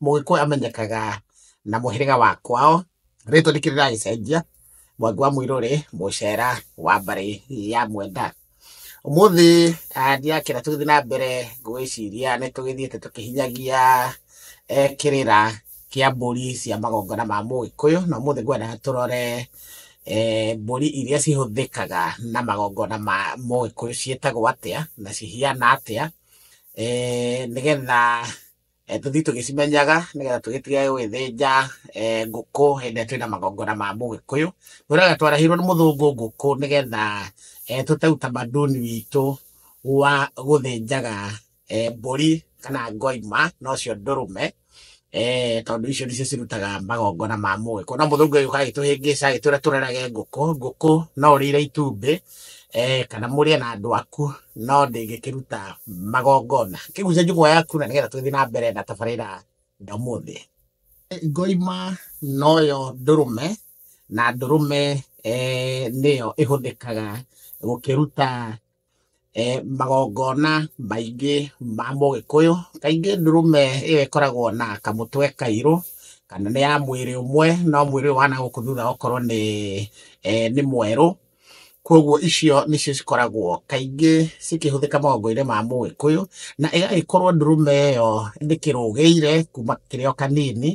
Mũgĩkũyũ amenyekaga na mũhĩrĩga wa kwao, rĩtwa nĩkĩo rĩragĩcenjia, Mwangi wa Mũirũrĩ, Mũcera wa mbarĩ ya Mwenda. Ũmũthĩ ndirakĩenda tũgĩthiĩ na mbere gũgĩciria nĩ tũgĩthiĩte tũkĩhinyagia kĩrĩra kĩa mbũri cia magongona ma Mũgĩkũyũ, na ũmũthĩ ngwenda tũrore mbũri iria cihũthĩkaga na magongona ma Mũgĩkũyũ ciĩtagwo atĩa, na cihiana atĩa, nĩgetha eh, tũthiĩ tũgĩcimenyaga nĩgetha tũgĩtige gũgĩthĩnja eh, ngũkũ hĩndĩ ĩrĩa twĩna magongona ma mũgĩkũyũ tũraga twarahirwo nĩ mũthũngũ ngũkũ nĩgetha eh, tũte utamaduni witũ wa gũthĩnjaga eh, mbũri kana ngoima nocio ndũrũme eh, tondũ icio nĩcio cirutaga magongona ma mũgĩkũyũ no mũthũngũ agĩũka agĩtũhĩngĩca agĩtwĩra tũrerage ngũkũ ngũkũ no ũrĩire itumbĩ kana mũrĩe na andũ aku, no ndĩngĩkĩruta magongona. Kĩgucia njũng'wa yaku na nĩgetha tũgĩthiĩ na mbere na tabarĩra ya ũmũthĩ. Ngoima noyo ndũrũme, na ndũrũme nĩyo ĩhũthĩkaga gũkĩruta magongona maingĩ ma mũgĩkũyũ. Kaingĩ ndũrũme ĩyo ĩkoragwo na kamũtwe kairũ, kana nĩ ya mwĩrĩ ũmwe no mwĩrĩ ũyũ wa nagũkũ thutha ũkorwo nĩ mwerũ. Kwoguo icio nĩcio cikoragwo kaingĩ cikĩhũthĩka maũndũ-inĩ ma mũgĩkũyũ, na ĩgagĩkorwo ndũrũme ĩyo ndĩkĩrũgĩire kuma ĩkĩrĩ o kanini,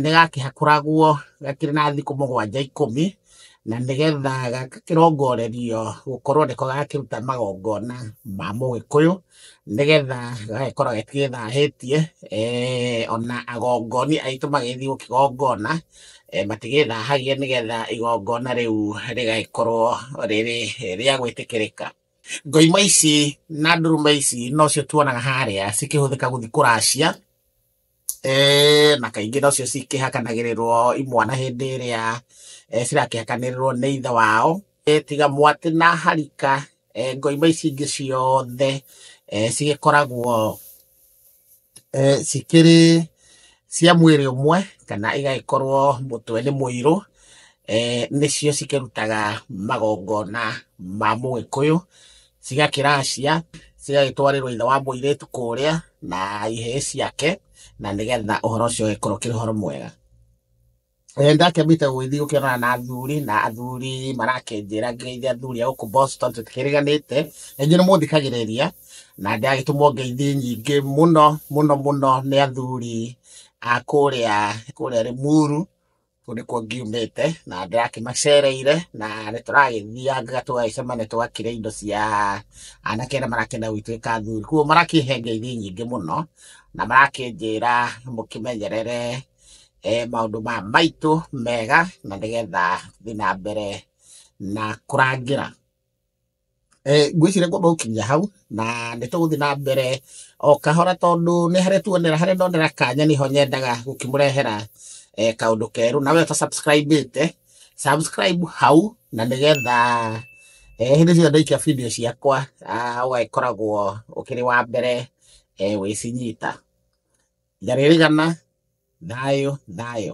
nĩ gakĩhakũragwo gakĩrĩ na thikũ mũgwanja ikũmi, na nĩgetha gagakĩrongorerio gũkorwo nĩko gakĩruta magongona ma mũgĩkũyũ. nĩgetha gagagĩkorwo gatigĩthahĩtie ona agongoni aitũ magĩthiĩ gũkĩgongona matigĩthahagia nĩgetha igongona rĩu rĩgagĩkorwo rĩrĩ rĩa gwĩtĩkĩrĩka. Ngoima ici na ndũrũme ici nocio tuonaga harĩa cikĩhũthĩka gũthiĩ kũracia na kaingĩ nocio cikĩhakanagĩrĩrwo imwana hĩndĩ ĩrĩa cirakĩhakanĩrĩrwo nĩ ithe wao, tiga mwatĩ na harika, ngoima ici ingĩ ciothe cigĩkoragwo cikĩrĩ cia mwĩrĩ ũmwe kana igagĩkorwo mũtwe nĩ mũirũ, nĩcio cikĩrutaga magongona ma mũgĩkũyũ. cigakĩracia, cigagĩtwarĩrwo ithe wa mũirĩtu kũrĩa na ihĩĩ ciake, na nĩgetha ũhoro ũcio ũgĩkorwo ũkĩrĩ ũhoro mwega. Eh, ndakĩambĩte gũgĩthiĩ gũkĩonana na athuri na athuri marakĩnjĩra ngĩgeithia athuri a gũkũ Boston tũtikĩriganĩte na inyuĩ nĩ mũthikagĩrĩria na ndagĩtũmwo ngeithi nyingĩ mũno mũno mũno nĩ athuri a kũrĩa kũrĩa Limuru Kũu nĩkuo ngiumĩte na ndĩrakĩmacereire na nĩ tũragĩthiangaga tũgagĩcemania tũgakĩrĩa indo cia anake arĩa marakĩenda gũgĩtuĩka athuri. Kũguo marakĩhe ngeithi nyingĩ mũno na marakĩnjĩra mũkĩmenyerere maũndũ maya maitũ mega na nĩgetha thiĩ na mbere na kũrangĩra. Ngwĩciria ngwamba gũkinyia hau, na nĩ tũgũthiĩ na mbere o kahora tondũ nĩ harĩa tuonera, harĩa ndonera kanya nĩho nyendaga gũkĩmũrehera kaũndũ kerũ. Na wee ũta subscribe ĩte, subscribe hau na nĩgetha hĩndĩ ciothe ndaikia video ciakwa ũgagĩkoragwo ũkĩrĩ wa mbere gwĩcinyita. Njarĩrĩgana, thayũ, thayũ.